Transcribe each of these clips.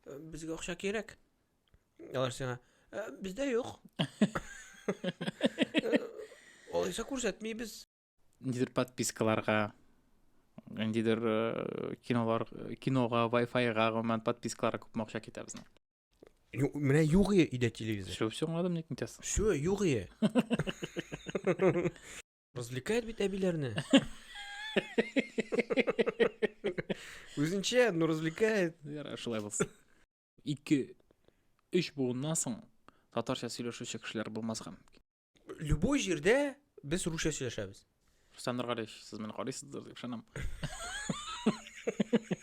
Э, Безгә акча кирәк. Алар сиңа, «Э, бездә юк. Э, Алайса күрсәтмибез. Нидер подпискаларга, нидер э, кинолар, кинога, Wi-Fi-га гомумән подпискаларга күп акча китә безнең. Ю- Менә юк иде телевизор. Шул все аңладым, ник нитәсең? Все, юк иде. Развлекает бит әбиләрне. Үзенчә, но развлекает. Ярар, шулай булсын. Ике, өч буыннан соң татарча сөйләшүче кешеләр булмаска мөмкин. Любой җирдә без русча сөйләшәбез. Рөстәм Нургалиевич, сез мине карыйсыздыр дип ышанам.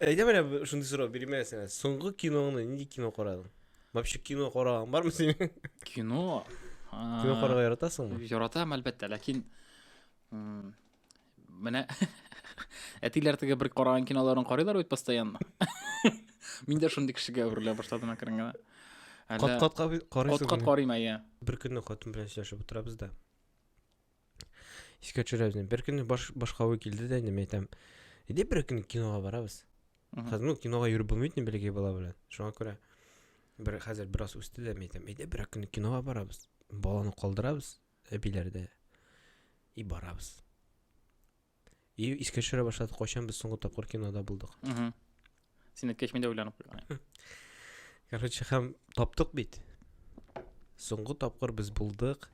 Әйдә менә б- шундый сорау бирмә сиңа. Соңгы киноңны нинди кино карадың? Вообще кино караган бармы синең? Кино. Кино карарга яратасыңмы? Яратам, әлбәттә, ләкин м, менә әтиләр теге бер караган киноларын карыйлар бит постоянно. Мин дә шундый кешегә әверелә башладым әкрен генә. Кат-кат карыйсың. Кат-кат карыйм, әйе. Бер көнне хатын белән сөйләшеп утырабыз да. Искә төшерәбез. инде. Бер көнне баш, башка уй килде дә инде, мин әйтәм, әйдә бер көн кинога барабыз. Мгм. Хәзер ну, кинога йөреп булмый бит инде бәләкәй бала белән. Шуңа күрә бер хәзер бераз үсте дә, мин әйтәм, әйдә бер көн кинога барабыз. Баланы калдырабыз әбиләрдә и барабыз. И искә төшерә башлады, кайчан без соңгы тапкыр кинода булдык. Син әйткәч, мин дә уйланып куйган. Короче, һәм таптык бит. Соңгы тапкыр без булдык.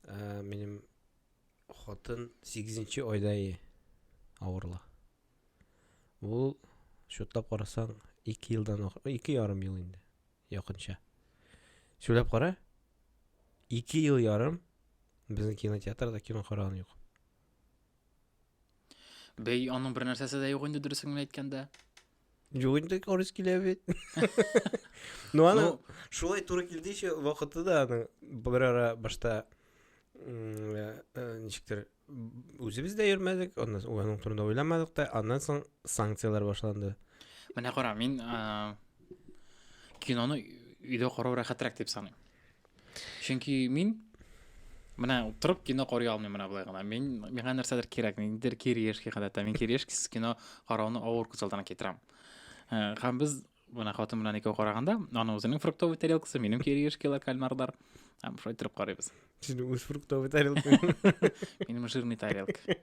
Ә, минем хатын 8 айда е авырла. Ул шутлап карасаң 2 елдан 2 ярым ел инде. Якынча. Сөйләп кара. Ике ел ярым безнең кинотеатрда кино караган юк. Бәй, аның бер нәрсәсе дә юк инде дөресен генә әйткәндә. Юк инде орыс килә бит. Ну аны ну, шулай туры килде еще вакыты да аны бер ара башта э, э, ничектер Үзебез дә йөрмәдек, аннан соң аның турында уйламадык та, аннан соң санкцияләр башланды. Менә кара, мин ә, киноны өйдә карау рәхәтрәк дип саныйм. Чөнки мин менә торып кино карый алмыйм менә болай гына. Мин миңа нәрсәдер кирәк, ниндидер кириешки гадәттә. Мин кириешкисез кино карауны авыр күз алдына китерәм. Ә, һәм без Бына хатын белән икәү караганда, аның үзенең фруктовый тарелкасы, минем кириешкилар, кальмарлар. Һәм шулай торып карыйбыз. Синең үз фруктовый тарелка. Минем жирный тарелка.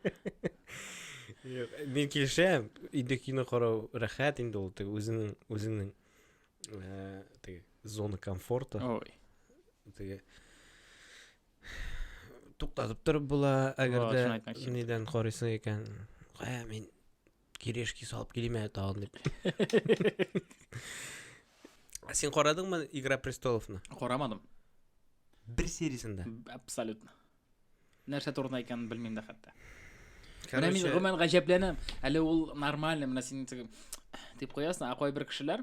Мин килешәм, инде кино карау рәхәт инде ул, теге үзеңнең үзеңнең э, теге зона комфорта. Ой. Теге туктатып торып була, әгәр Вау, шуны дә әйтмәкче идем. нидән карыйсың икән. Кая мин Кирешки салып килим әле тагын дип. Ә Син карадыңмы Игра престоловны? Карамадым. Бер сериясен дә. Абсолютно. Нәрсә турында икәнен белмим дә хәтта. Менә мин Короче, гомумән гаҗәпләнәм. Әле ул нормально, менә син тип- дип куясың, ә кайбер кешеләр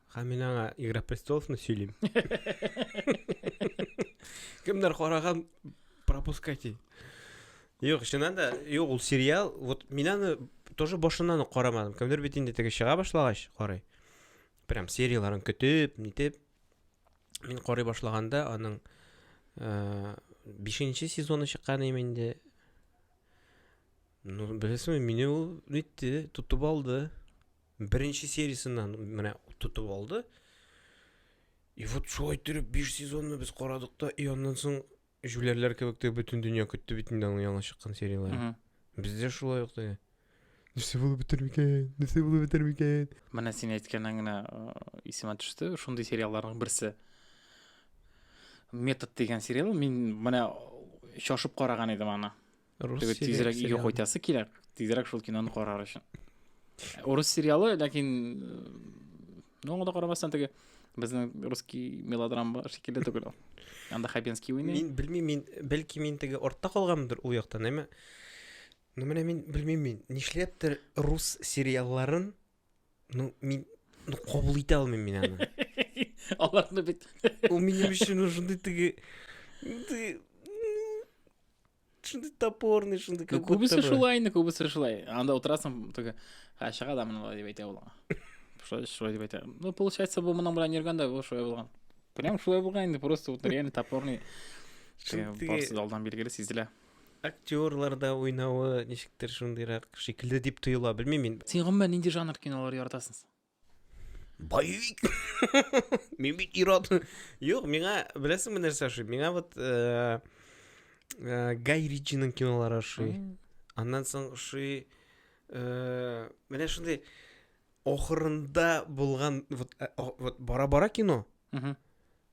Һәм мин аңа Игра престоловны сөйлим. Кемнәр караган пропускайте. Юк, чыннан да, юк, ул сериал, вот мин аны тоже башыннан ук карамадым. Кемдер бит инде теге чыга башлагач карый. Прям серияларын көтеп, нитеп. Мин карый башлаганда аның э, бишенче сезоны чыккан име инде. Ну, белесеңме, мине ул нитте, тотып алды. Беренче сериясеннән менә тотып алды. И вот шулай итеп 5 сезонны без карадык та, и аннан соң җүләрләр кебек тә бөтен дөнья көтте бит инде аның яңа чыккан серияләрен. Бездә шулай ук теге. Нәрсә булып бетер микән? Нәрсә булып бетер микән? Менә син әйткәннән генә исемә төште, шундый сериалларның берсе. Метод дигән сериал, мин менә шашып караган идем аны. Рус Теге тизрәк өйгә сериалы. кайтасы килә, тизрәк шул киноны карар өчен. Урыс сериалы, ләкин э, ну, аңа да карамастан теге безнең русский мелодрама шикелле түгел ул. Анда Хабенский уйный. Мин белмим, мин бәлки мин теге артта калганмындыр ул яктан, әмма Ну менә мин белмим мин, нишләптер рус сериалларын ну мин ну кабул итә алмыйм мин аны. Аларны бит. Ул минем өчен шундый теге шундый топорный шундый ну, күбесе шулай инде күбесе шулай анда утырасың только ә чыга да мына дип әйтә ул шулай шулай дип әйтә ну получается бу моның белән йөргәндә бу шулай булган прям шулай булган инде просто вот реально топорный барысы да алдан билгеле сизелә актерларда уйнавы ничектер шундыйрак шикелле дип тоела белмим мин син гомумән нинди жанр кинолар яратасың боевик мин бит ирод юк миңа беләсеңме нәрсә ошый миңа вот э, э, гай ричиның кинолары ошый аннан соң ошый э, менә шундый ахырында булган вот, вот бара бара кино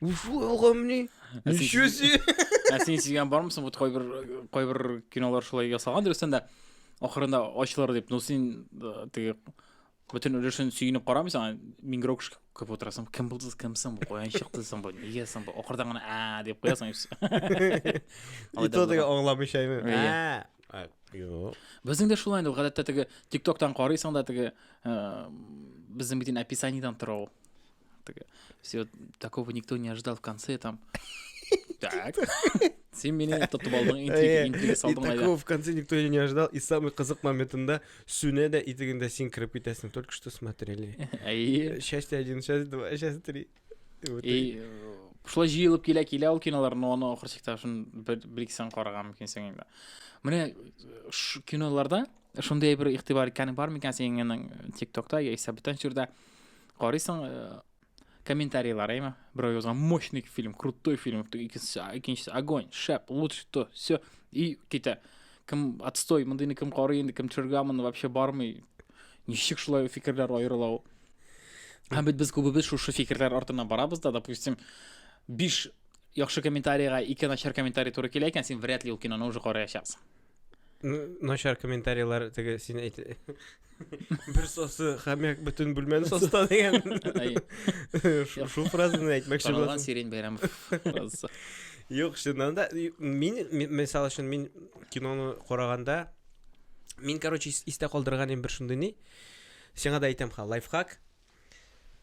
Уфу, гомни. Ничего себе. Ә син сигән бармысың? Вот кайбер кайбер кинолар шулай ясалган дөрестән дә ахырында ачылыр дип. Ну син э, теге бөтен өлешен сөенеп карамыйсың, миңгрәк күп утырасың. Кем булды, кем соң, каян чыкты соң бу? Нигә соң бу? Ахырдан гына а дип куясың. И то теге аңламыйча әйме. Юк. Безнең дә шулай инде, гадәттә теге TikTok-тан карыйсың да теге э, безнең бит инде описаниедан тора ул. Так, все, такого никто не ожидал в конце, там... Так. Сен менен тотып алдың, интрига, интрига салдың әле. Такого в конце никто не ожидал, и самый кызык моментында сүнә дә итегендә син кереп китәсең, только что смотрели. Әйе. Счастье один, счастье два, счастье три. И шулай җыелып килә килә ул кинолар, но аны ахыр чиктә шун бер ике сан караган мөмкинсең инде. Менә киноларда шундый бер игътибар икәнең бар микән синең ТикТокта яисә бүтән җирдә? Карыйсың, э, комментарийлар, әйме? Берәү язган мощный фильм, крутой фильм, икенчесе, икенчесе огонь, шәп, лучше то, все, и китә. Кем отстой, мондыйны кем карый инде, кем төшергә моны вообще бармый. Ничек шулай фикерләр аерыла ул? Һәм бит без күбебез шушы фикерләр артына барабыз да, допустим, биш яхшы комментарийга ике начар комментарий туры килә икән, син вряд ли ул киноны уже караячаксың. Начар комментарийлар теге син әйт. Бер сосы хәмәк бөтен бүлмәне соста дигән. Шул фразаны әйтмәкче булдым. Танылган Сирень Бәйрәмов фразасы. Юк, чыннан да мин мисал өчен мин киноны караганда мин, короче, истә калдырган бер шундый ни. Сиңа да әйтәм ха, лайфхак.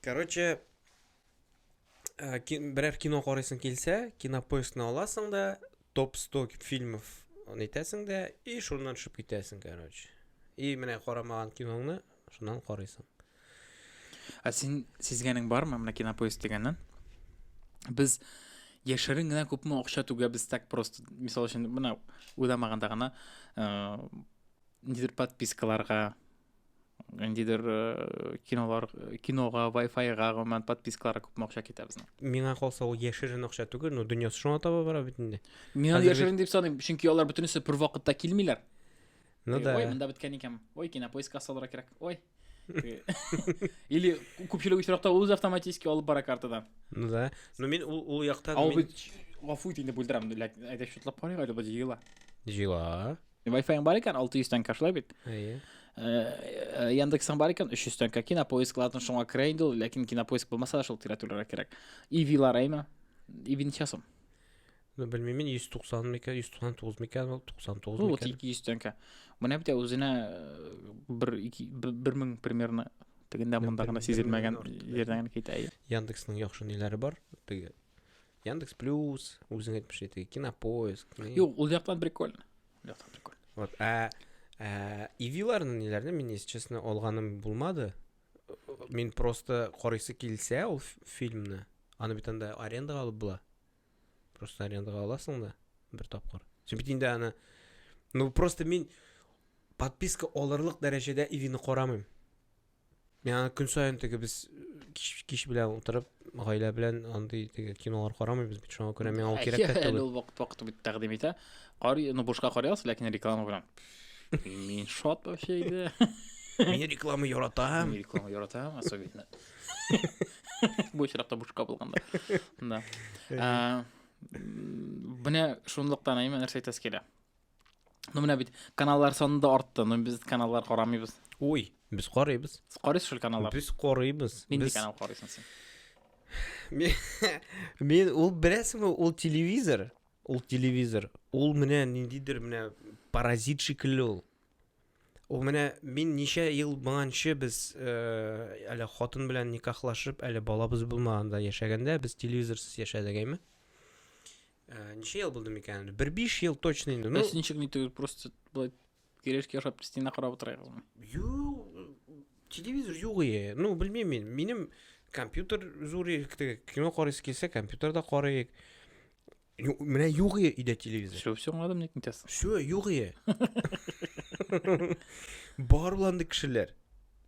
Короче, Э, берәр кино карыйсың килсә кинопоискны аласың да топ 100 фильмов әйтәсең дә и шуннан төшеп китәсең короче и менә карамаган киноңны шуннан карыйсың ә син сизгәнең бармы менә кинопоиск дигәннән без яшерен генә күпме акча түгәбез так просто мисал өчен менә уйламаганда гына э, нидер подпискаларга ниндидер э, кинолар э, кинога вайфайга гомумән подпискаларга күп акча китә безнең миңа калса ул яшерен акча түгел но дөньясы шуңа таба бара бит инде мин аны яшерен дип саныйм чөнки алар бөтенесе бер вакытта килмиләр ну да ой монда беткән икән ой кинопоискка салырга кирәк ой или күпчелек очракта ул үзе автоматически алып бара картадан ну да но мин ул ул якта гафу ит инде бүлдерәм әйдә шутлап карыйк әле бу җыела җыела Wi-Fi-ң бар икән, 600 тәңкә шулай бит. Әйе. Э, Яндексың бар икән, 300 тәңкә. Кинопоиск латын шуңа керә инде ул, ләкин кинопоиск булмаса да шул тирәтүләргә кирәк. Ивилар әйме? Иви ничә сум? Ну, белмим, 190 микән, 199 микән, 99 Ну, вот микән. 200 тәңкә. Менә бит үзенә э, бер ике- бер- бер мең примерно тегендә Ну, монда бер гына мең- бер сизелмәгән меңнән артык, җирдән генә китә. әйе. Яндексның яхшы ниләре бар? Теге Яндекс Плюс, үзең әйтмешли теге Кинопоиск. не- Юк, ул яктан прикольно. Ул яктан прикольно. Вот, ә, ә ивиларны ниләрне мин, если честно, алганым булмады. Мин просто карыйсы килсә ул ф- фильмны, аны бит анда арендага алып була. Просто арендага аласың да бер тапкыр. Син бит инде аны Ну просто мин подписка алырлык дәрәҗәдә ивины карамыйм. Яңа көн саен теге без кич, кич белән утырып, гаилә белән андый теге кинолар карамыйбыз бит. Шуңа күрә миңа ул кирәк тә түгел. Ул вакыт вакыт бит тәкъдим итә. Кар, ну бушка карый аласыз, ләкин реклама белән. Мин шат вообще иде. Мин реклама яратам. Мин реклама яратам, особенно. Бу очракта бушка булганда. Да. Менә шунлыктан әйме нәрсә әйтәс килә. Ну менә бит каналлар саны да артты. Ну без каналлар карамыйбыз. Уй, без карыйбыз. Сез карыйсыз шул каналлар? Без карыйбыз. Нинди без... канал карыйсың син? Мин ул беләсеңме, ул телевизор. Ул телевизор. Ул менә ниндидер менә паразит шикелле ул. Ул менә мин ничә ел моңанчы без э, әле хатын белән никахлашып, әле балабыз булмаганда яшәгәндә без телевизорсыз яшәдек әйме? Ә, ничә ел булды микән инде? Бер биш ел точно инде. Ну, Син чыгмый түгел, просто былай керешкә ашап стена карап утырыгызмы? Ю, телевизор юк ие. Ну, белмим мин. Минем компьютер зур икте. Кино карыйсы килсә, компьютерда карыйк. Ю- Менә юк ие өйдә телевизор. Все, все аңладым, ник нитәсен. Все, юк ие. Бар буланды кешеләр.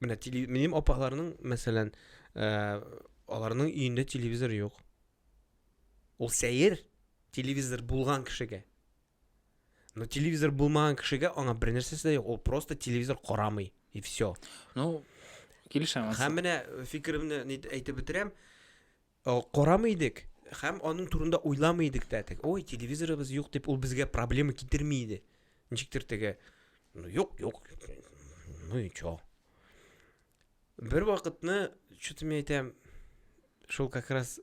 Менә теле- минем апаларның, мәсәлән, э, аларның өендә телевизор юк. Ул сәер телевизор булган кешегә. Но телевизор булмаган кешегә аңа бер нәрсәсе дә юк. Ул просто телевизор карамый и все. Ну, килешәм. Һәм менә фикеремне әйтеп бетерәм. Карамый идек һәм аның турында уйламый идек тә. Ой, телевизорыбыз юк дип ул безгә проблема китерми иде. Ничектер теге. Ну, юк, юк. Ну и чё? Бер вакытны, чүтем әйтәм, шул как раз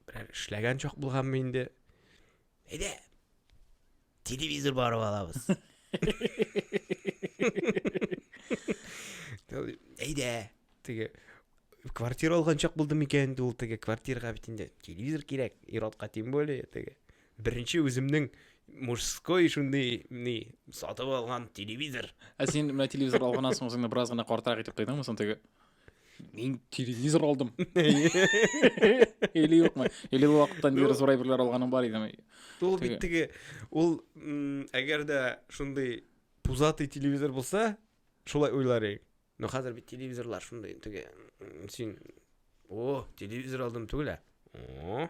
берәр эшләгән чак булганмы инде. Әйдә, телевизор барып алабыз. Әйдә, теге квартира алган чак булды микән инде ул теге квартирага бит инде телевизор кирәк, ир-атка тем более теге. Беренче үземнең мужской шундый ни сатып алган телевизор. Ә син менә телевизор алганнан соң үзеңне бераз гына картырак итеп тойдыңмы соң теге? Мин телевизор алдым. Или юкмы? Или ул вакыттан бері зур әйберләр алганың бар идеме? Ул бит теге ул әгәр дә шундый пузатый телевизор булса, шулай уйлар идек. Но хәзер бит телевизорлар шундый теге син о, телевизор алдым түгел. О,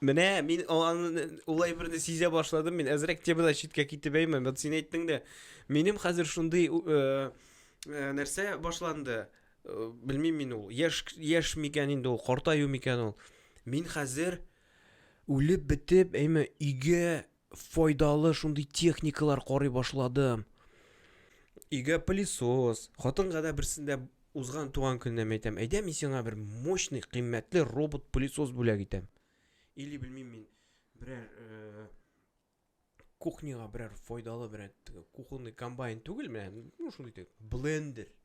Менә мин аны ул әйберне сизә башладым. Мин әзрәк темадан читкә китеп әймен. Вот син әйттең дә, минем хәзер шундый э, э, нәрсә башланды. Э, Белмим мин ул. Яш яш микән инде ул, картаю микән ул. Мин хәзер үлеп бетеп, әйме, өйгә файдалы шундый техникалар карый башладым. Өйгә пылесос, хатынга да берсендә узган туган көннән әйтәм, әйдә мин сиңа бер мощный, кыйммәтле робот пылесос бүләк итәм. Или белмим мин берәр э, кухняга берәр файдалы берәр кухонный комбайн түгел менә, ну шундый блендер,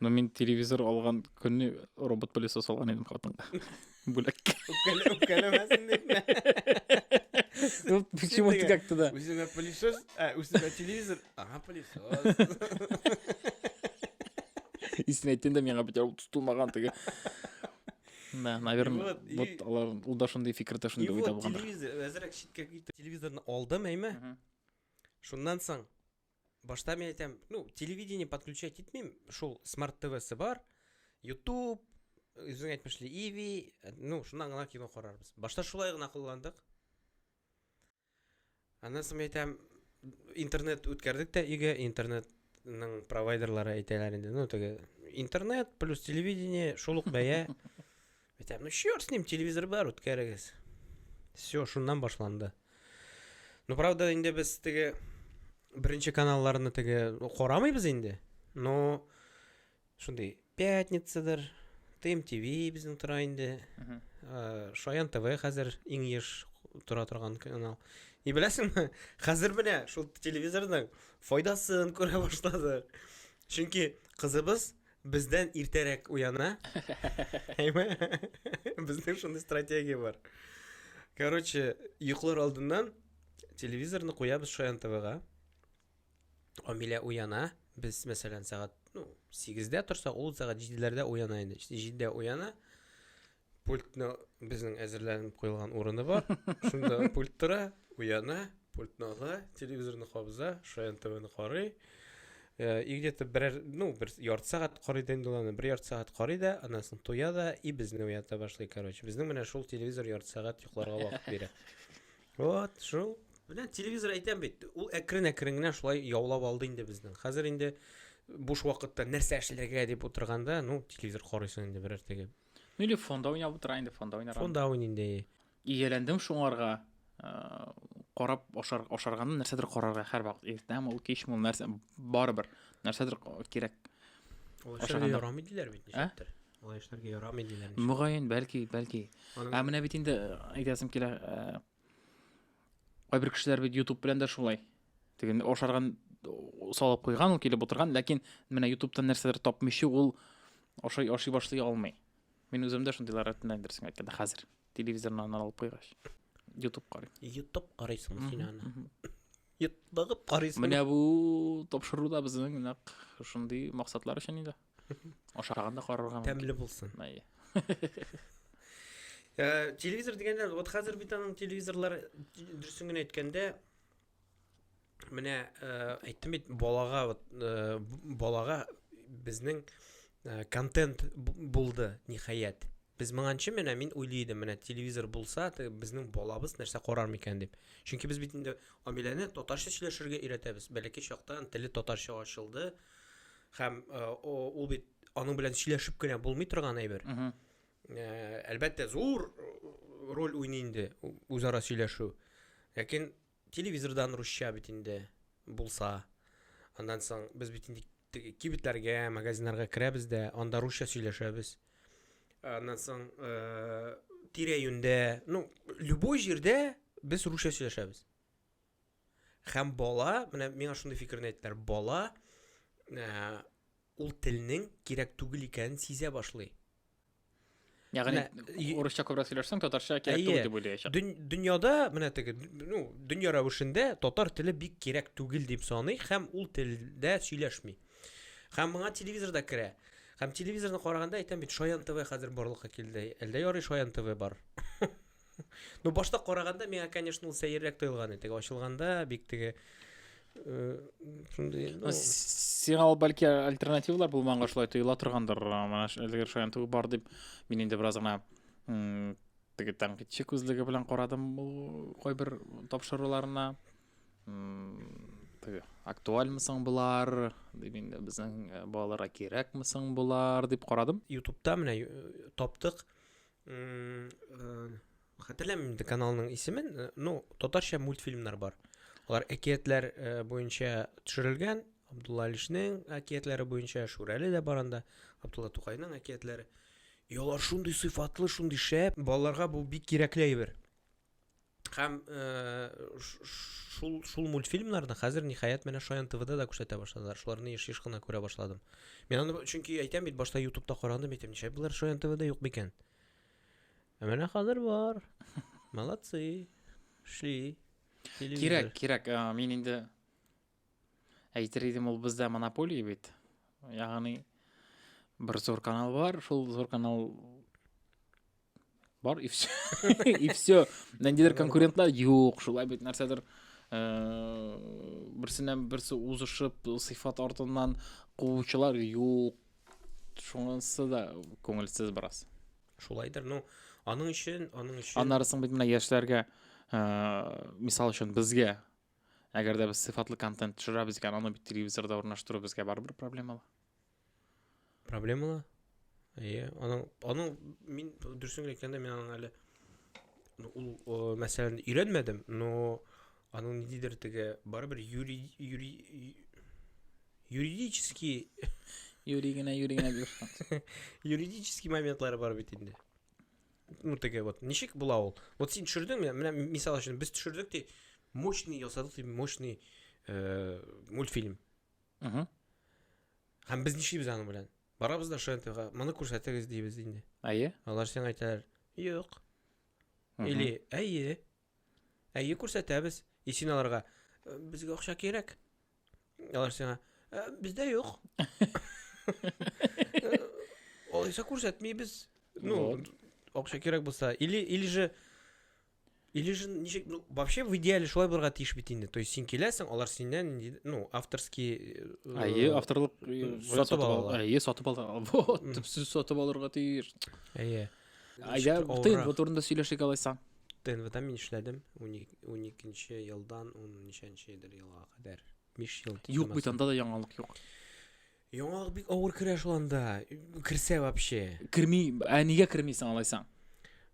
Но мин телевизор алган көнне робот пылесос алган идем хатынга. Бүләк. Үпкәләмәсен дип. Ну, почему ты как-то да? Үземә пылесос, ә үземә телевизор. Ага, пылесос. Истин әйткәндә миңа бит ул тотылмаган теге. Да, наверное, вот алар ул да шундый фикердә шундый уйда булган. Телевизор әзрәк читкә китеп телевизорны алдым, әйме? Шуннан соң Башта мин әйтәм, ну, телевидение подключать итмим, шул смарт ТВсы бар, YouTube, үзең әйтмешли, EV, ну, шуннан гына кино карарбыз. Башта шулай гына кулландык. Аннан соң әйтәм, интернет үткәрдек тә өйгә, интернет ның провайдерлары әйтәләр инде. Ну, теге интернет плюс телевидение шул ук бәя. Әйтәм, ну черт с ним, телевизор бар, үткәрегез. Все, шуннан башланды. Ну, правда, инде без теге беренче каналларны теге карамыйбыз инде. Но шундый пятницадыр, Тим ТВ безнең тора инде. Э, Шаян ТВ хәзер иң еш тора торган канал. И беләсеңме, хәзер менә шул телевизорның файдасын күрә башлады. Чөнки кызыбыз Бездән иртәрәк уяна. Әйме? Безнең шундый стратегия бар. Короче, йоклар алдыннан телевизорны куябыз Шаян ТВга. Амилә уяна. Без, мәсәлән, сәгать, ну, 8-дә торса, ул сәгать 7-ләрдә уяна инде. 7-дә уяна. Пультны безнең әзерләнеп куелган урыны бар. Шунда пульт тора, уяна, пультны ала, телевизорны кабыза, Шаян ТВны карый. Э, и где-то берәр, ну, бер ярты сәгать карый да инде ул бер ярты сәгать карый да, аннан соң туя да, и безне уята башлый, короче. Безнең менә шул телевизор ярты сәгать йокларга вакыт бирә. Вот, шул. Менә телевизор әйтәм бит, ул әкрен-әкрен генә шулай яулап алды инде безнең. Хәзер инде буш вакытта нәрсә эшләргә дип утырганда, ну, телевизор карыйсың инде берәр теге Ну или фонда уйнап утыра инде, фонда уйнар. Фонда уйный инде. Ияләндем шуңарга. Э, карап ашар, ашарганны нәрсәдер карарга һәр вакыт. Иртәме ул, кичме ул нәрсә барыбер. Нәрсәдер кирәк. Ул эшләргә ярамый диләр бит ничектер. Ә? Ул эшләргә ярамый диләр. Мөгаен, бәлки, бәлки. Ә менә бит инде э, әйтәсем килә, э, Кайбер кешеләр бит YouTube белән дә шулай. Теген ашарган салып куйган, ул килеп утырган, ләкин менә YouTube-тан нәрсәдер тапмыйчы ул ашый ашый башлый алмый. Мин үзем дә шундыйлар рәтеннән дөресен әйткәндә хәзер телевизорнан алып куйгач. YouTube карый. YouTube карыйсың син аны. Йотлыгып карыйсың. Менә бу тапшыруда безнең нәкъ шундый максатлар өчен инде. ашаганда карарга мөмкин тәмле булсын э, телевизор дигәндә вот хәзер бит аның телевизорлар дөресен генә әйткәндә менә э, әйттем бит балага вот э, балага безнең контент булды ниһаять без моңанчы менә мин уйлый идем менә телевизор булса безнең балабыз нәрсә карар микән дип чөнки без бит инде амиләне татарча сөйләшергә өйрәтәбез бәләкәй чактан теле татарча ачылды ә, Һәм ул бит аның белән сөйләшеп кенә булмый торган әйбер. Әлбәттә, зур роль уйный инде үзара сөйләшү. Ләкин телевизордан русча бит инде булса, аннан соң без бит инде кибетләргә, магазиннарга керәбез дә, анда русча сөйләшәбез. Аннан соң тирә-юньдә, ну, любой җирдә без русча сөйләшәбез. Хәм бала, менә миңа шундый фикерне әйттеләр, бала ә, ул телнең кирәк түгел икәнен сизә башлый. Ягъни урысча күбрәк сөйләшсәң, татарча кирәк түгел дип уйлаячак. Дөньяда менә теге, ну, дөнья рәвешендә татар теле бик кирәк түгел дип саный һәм ул телдә сөйләшми. Һәм моңа телевизорда керә. Һәм телевизорны караганда әйтәм бит, Шаян ТВ хәзер барлыкка килде. Әлдә ярый Шаян ТВ бар. Ну, башта караганда миңа, конечно, ул сәеррәк тоелган иде. Ачылганда бик теге э, шундый, ну, Сиңа ул бәлки альтернативалар булманга шулай тоела торгандыр. Менә әлеге шаян түгел бар дип, мин инде бераз гына м, теге тәнкыйтьче күзлеге белән карадым ул кайбер тапшыруларына. М, Теге актуальмы соң болар? Дип инде безнең э, балаларга кирәкме соң болар дип карадым. Ютубта менә э, таптык. хәтерләмим инде каналның исемен э, ну татарча мультфильмнар бар алар әкиятләр э, буенча төшерелгән абдулла алишнең әкиятләре буенча шүрәле дә бар анда абдулла тукайның әкиятләре и алар шундый сыйфатлы шундый шәп балаларга бу бик кирәкле әйбер Һәм э, шул, шул мультфильмнарны хәзер ниһаять менә Шаян ТВда да күрсәтә башладылар. Шуларны еш-еш кына күрә башладым. Мин аны чөнки әйтәм бит, башта ютубта карадым, әйтәм, ничә болар Шаян ТВда юк микән? Ә менә хәзер бар. Молодцы. Шли. Кирәк, кирәк. Мин инде Әйтер идем, ул бездә монополия бит. Ягъни бер зур канал бар, шул зур канал бар и все. и все. Нәндидер конкурентлар юк, шулай бит нәрсәдер э, берсеннән берсе узышып, сыйфат артыннан куучылар юк. Шунысы да күңелсез бераз. Шулайдыр, ну, аның өчен, аның өчен. Аннары соң бит менә яшьләргә, э, мисал өчен безгә Әгәр дә без сыйфатлы контент төшерәбез икән, аны бит телевизорда урнаштыру безгә барыбер проблемалы. Проблемалы? Әйе, аның аның мин дөресен генә әйткәндә мин аның әле ну, ул о, мәсьәләне өйрәнмәдем, но аның ниндидер теге барыбер юри юри юридический Юри генә, юри генә дип. юридический моментлары бар бит инде. ну теге вот ничек була ул вот син төшердең менә менә мисал өчен без төшердек ди мощный ясадык ди мощный э, мультфильм угу. һәм без нишлибез аның белән барабыз да шнтга моны күрсәтегез дибез инде әйе алар сиңа әйтәләр юк или әйе Әйе, күрсәтәбез. И син аларга, «Э, безгә акча кирәк. Алар сиңа, «Э, бездә юк. Э, Алайса күрсәтмибез. Ну, Вот. акча кирәк булса. Или, или же, или же, ничек, ну, вообще в идеале шулай булырга тиеш бит инде. То есть син киләсең, алар синнән, нинди- ну, авторский... э, Әйе, авторлык э, сатып ал- алалар. Әйе, сатып алалар. Вот, Мгм. төпсез сатып алырга тиеш. Әйе. Ә Ничектер я тыйын авыррак. бу турында сөйләшик алайса. ТНВда мин эшләдем. 12 елдан 10 ничәнче идер елга кадәр. 5 ел. Юк бит анда да яңалык юк. Яңалык бик авыр керә шул анда. Керсә вообще. Керми, ә нигә кермисең алайсаң?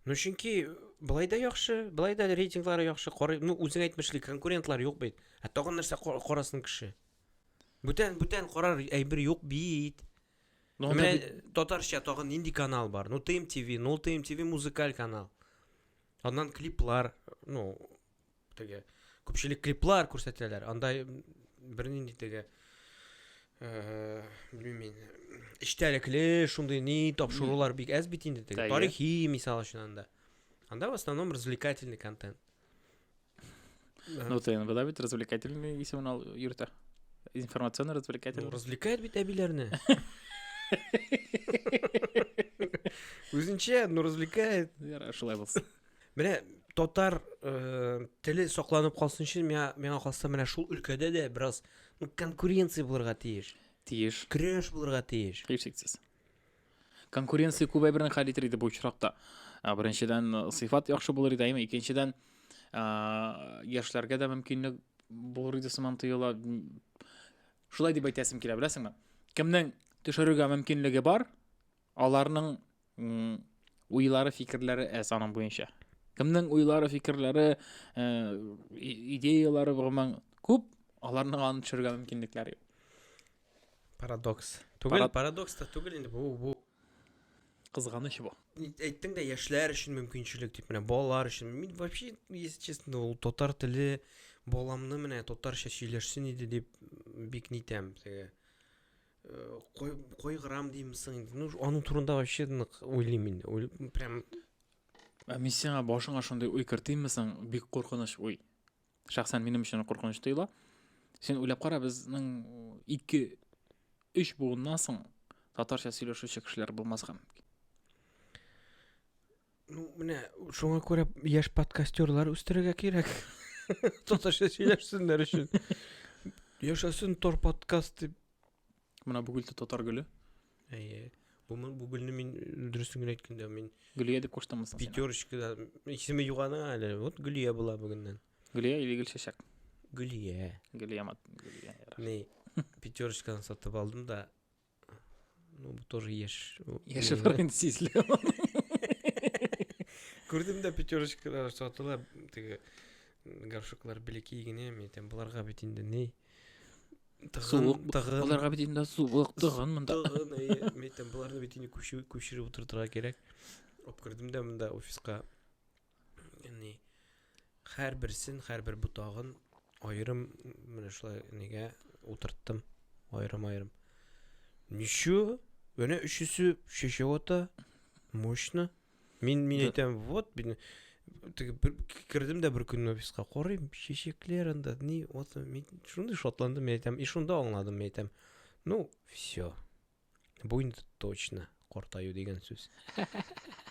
Ну чөнки былай да яхшы, былай да рейтинглары яхшы. Карый, ну үзең әйтмешли, конкурентлар юк бит. Ә тагын нәрсә карасын кеше? Бүтән бүтән карар әйбер юк бит. Ну, анда Менә бит- татарча тагын нинди канал бар? Ну, ТМ ТВ, ну, ТМ ТВ музыкаль канал. Аннан клиплар, ну, теге күпчелек клиплар күрсәтәләр. Анда м, бернинди теге э, белмим мин, эчтәлекле шундый ни тапшырулар бик әз бит инде теге. Әйе. Тарихи мисал өчен анда. Анда в основном развлекательный контент. Ну, ты иногда ведь развлекательный если он юрта. Информационно развлекательный. Ну, развлекает ведь обилярны. Үзенчә, ну развлекает. Яра, шулай булсын. Менә татар э, теле сакланып калсын өчен миңа миңа калса менә шул өлкәдә дә бераз ну, конкуренция булырга тиеш. Тиеш. Көрәш булырга тиеш. Һичшиксез. конкуренция күбәйберен хәл итер иде бу очракта беренчедән сыйфат яхшы булыр иде әйме икенчедән яшьләргә дә мөмкинлек булыр иде сыман тоела шулай дип әйтәсем килә беләсеңме кемнең төшерергә мөмкинлеге бар аларның уйлары фикерләре әз аның буенча кемнең уйлары фикерләре идеялары гомумән күп аларның аны төшерергә мөмкинлекләре юк Парадокс. Түгел, Парад... парадокс та түгел инде бу, бу. Кызганыч бу. Әйттең дә яшьләр өчен мөмкинчелек дип менә балалар өчен. Мин вообще, если честно, ул татар теле баламны менә татарча сөйләшсен иде дип бик нитәм теге кайгырам деймсең ну аның турында вообще нык уйлыйм инде прям ә мин сиңа башыңа шундый уй кертимме соң бик куркыныч уй Шәхсән минем өчен куркыныч тоела. Син уйлап кара, безнең 2-3 буыннан соң татарча сөйләшүче кешеләр булмаска мөмкин. Ну, менә шуңа күрә яшь подкастерлар үстерергә кирәк. Татарча сөйләшсеннәр өчен. Яшәсен тор подкаст дип Менә бу гөлте татар гөле. Әйе. Бу бу гөлне мин дөресен генә әйткәндә мин Гөлия дип куштыммы соң? Пятерочкада исеме юк аның әле. Вот Гөлия була бүгеннән. Гөлия или Гөлчәчәк? Гөлия. Гөлия мат. Гөлия. Ни, пятерочканы сатып алдым да. Ну, бу тоже яшь. Яшь барган сизле. Күрдем дә пятерочкалар сатыла, теге горшоклар белеки генә, мен әйтәм, буларга бит инде ни. Суык тыгын. Аларга бит инде суык тыгын монда. Тыгын, әйе. Мин әйтәм, боларны бит инде күчереп күчереп утыртырга кирәк. Алып кердем дә монда офиска. Яни һәр берсен, һәр бер ботагын аерым менә шулай нигә утырттым. Аерым-аерым. Ничу? Менә өчесе шешә ата. Мощно. Мин мин әйтәм, вот мин кердем дә бер көнне офиска карыйм, чәчәкләр анда, ни, вот мин шундый шатландым, мин әйтәм, и шунда аңладым, мин әйтәм. Ну, все. Бу инде точно картаю дигән сүз.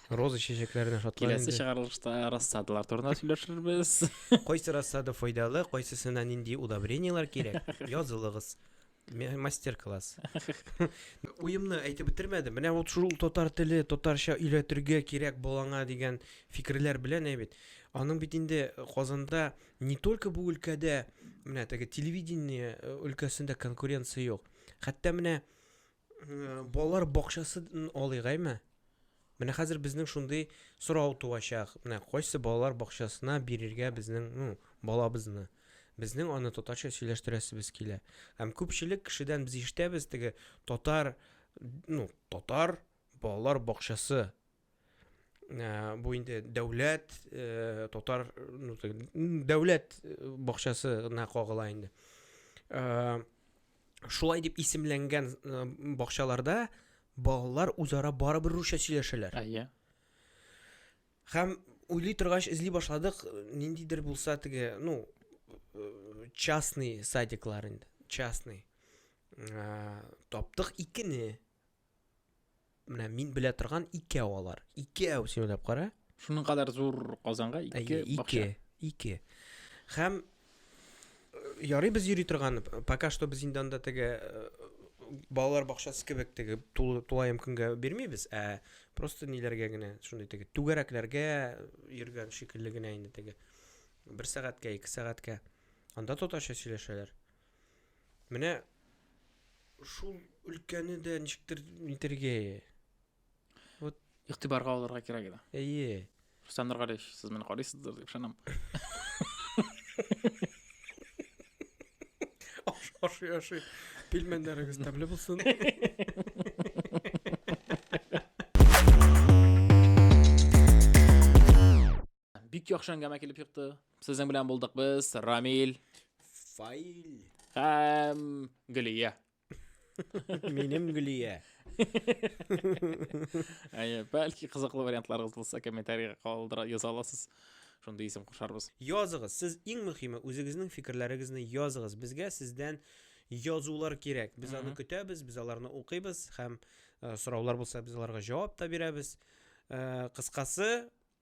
Роза чәчәкләренә шатланды. Киләсе чыгарылышта рассадалар турында сөйләшербез. Кайсы рассада файдалы, кайсысына нинди удобрениелар кирәк? Язылыгыз. мастер-класс уемны әйтеп бетермәдем менә вот шул татар теле татарча өйләтергә кирәк балаңа дигән фикерләр белән әйбит аның бит инде э, казанда не только бу өлкәдә менә теге телевидение э, өлкәсендә конкуренция юк хәтта менә э, балалар бакчасын алыйк әйме Менә хәзер безнең шундый сорау туачак, менә кайсы балалар бакчасына бирергә безнең, ну, балабызны? Безнең аны татарча сөйләштерәсебез килә. Һәм күпчелек кешедән без ишетәбез теге татар, ну, татар балалар бакчасы Э, бу инде дәүләт э, татар ну, дәүләт э, бакчасына кагыла инде шулай дип исемләнгән э, бакчаларда балалар үзара барыбер русча сөйләшәләр. Әйе. Һәм уйлый торгач эзли башладык, ниндидер булса теге, ну, э, частный садиклар инде, частный. Э, таптык икене. Менә мин белә торган икәү алар. Икәү, син уйлап кара. Шуның кадәр зур Казанга ике бакча. Ике. Хәм э, ярый без йөри торган, пока что без инде анда теге э, балалар бакчасы кебек теге тулаем көнгә бирмибез, ә просто ниләргә генә, шундый теге түгәрәкләргә йөргән шикелле генә инде теге. Бер сәгатькә, ике сәгатькә. Анда татарча сөйләшәләр. Менә шул өлкәне дә ничектер нитергә. Вот игътибарга алырга кирәк иде. Әйе. Рустам Нургалиевич, сез мине карыйсыздыр дип ышанам. Ашый, ашый. Пилмәннәрегез тәмле булсын. Бик яхшы әңгәмә килеп чыкты. Сезнең белән булдык без, Рамил. Фаил. Һәм Гөлия. Минем Гөлия. Әйе, бәлки кызыклы вариантларыгыз булса комментариягә калдыра яза аласыз. Шундый исем кушарбыз. Языгыз. Сез иң мөһиме үзегезнең фикерләрегезне языгыз. Безгә сездән язулар кирәк. Без аны көтәбез, без аларны укыйбыз һәм э, сораулар булса без аларга җавап та бирәбез. Э, Кыскасы,